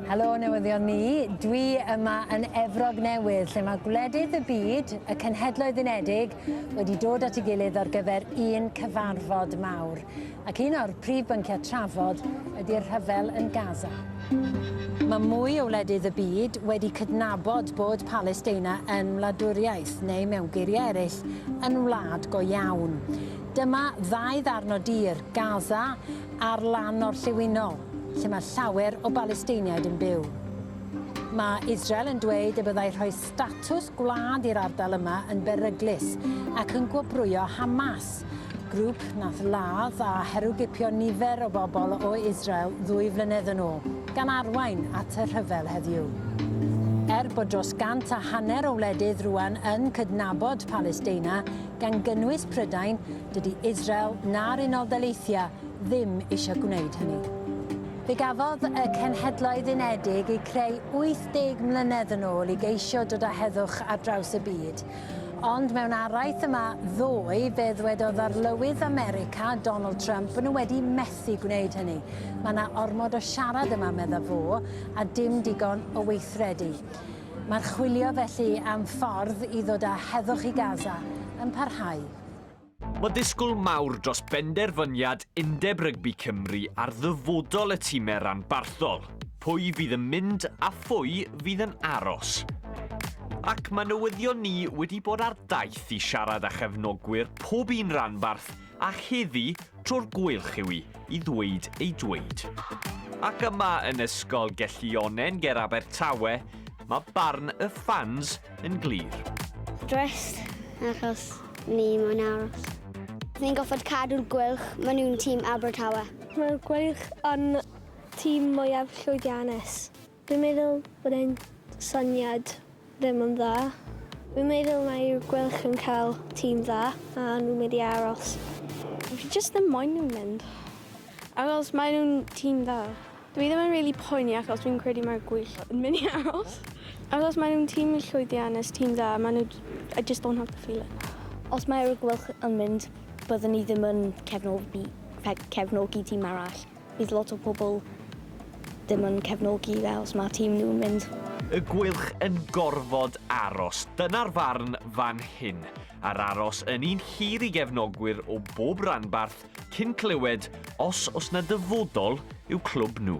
Helo newyddion ni, dwi yma yn Efrog Newydd lle mae gwledydd y byd, y Cenhedloedd Unedig, wedi dod at ei gilydd ar gyfer un cyfarfod mawr. Ac un o'r prif bynciau trafod ydy'r rhyfel yn Gaza. Mae mwy o wledydd y byd wedi cydnabod bod Palesteina yn wladwriaeth, neu mewn geiriau eraill, yn wlad go iawn. Dyma ddau ddarn o dir, Gaza Ar lan orllewinol, lle mae llawer o Balesteiniaid yn byw. Mae Israel yn dweud y byddai rhoi statws gwlad i'r ardal yma yn beryglus ac yn gwobrwyo Hamas, grŵp nath ladd a herwgipio nifer o bobl o Israel ddwy flynedd yn ôl, gan arwain at y rhyfel heddiw. Er bod dros gant a hanner o wledydd rŵan yn cydnabod Palesteina, gan gynnwys Prydain, Dydy Israel na'r Unol Daleithiau ddim eisiau gwneud hynny. Fe gafodd y Cenhedloedd Unedig eu creu 80 mlynedd yn ôl i geisio dod â heddwch ar draws y byd. Ond mewn araith yma ddoe, fe ddwedodd Arlywydd America, Donald Trump, bod nhw wedi methu gwneud hynny. Mae yna ormod o siarad yma, meddaf fo, a dim digon o weithredu. Mae'r chwilio felly am ffordd i ddod â heddwch i Gaza yn parhau. Mae disgwyl mawr dros benderfyniad Undeb Rygbi Cymru ar ddyfodol y timau ranbarthol, pwy fydd yn mynd a phwy fydd yn aros. Ac mae newyddion ni wedi bod ar daith i siarad â chefnogwyr pob un ranbarth a heddi tro'r gweilch yw i i ddweud ei dweud. Ac yma yn Ysgol Gelli Onen ger Abertawe, mae barn y ffans yn glir. Dressed, achos ni moyn aros. Ni'n goffod cadw'r gwylch, maen nhw'n tîm Abertawe. Mae'r gwylch yn tîm mwyaf llwyddiannus. Dwi'n meddwl bod e'n syniad ddim yn dda. Dwi'n meddwl mae'r gwylch yn cael tîm dda a nhw'n mynd i aros. Fi jyst ddim moyn nhw'n mynd, achos maen nhw'n tîm dda. Dw i ddim yn rili poeni achos dwi'n credu mae'r gwyll yn mynd i aros. Achos maen nhw'n tîm llwyddiannus, tîm dda, maen nhw... I just don't have the feeling. Os mae'r gwyll yn mynd, byddwn i ddim yn cefnogi cefnogi tîm arall. Bydd lot o pobl ddim yn cefnogi fe os mae tîm nhw'n mynd. Y gwyll yn gorfod aros, dyna'r farn fan hyn. A'r aros yn un hir i gefnogwyr o bob ranbarth cyn clywed os oes 'na dyfodol i'w clwb nhw.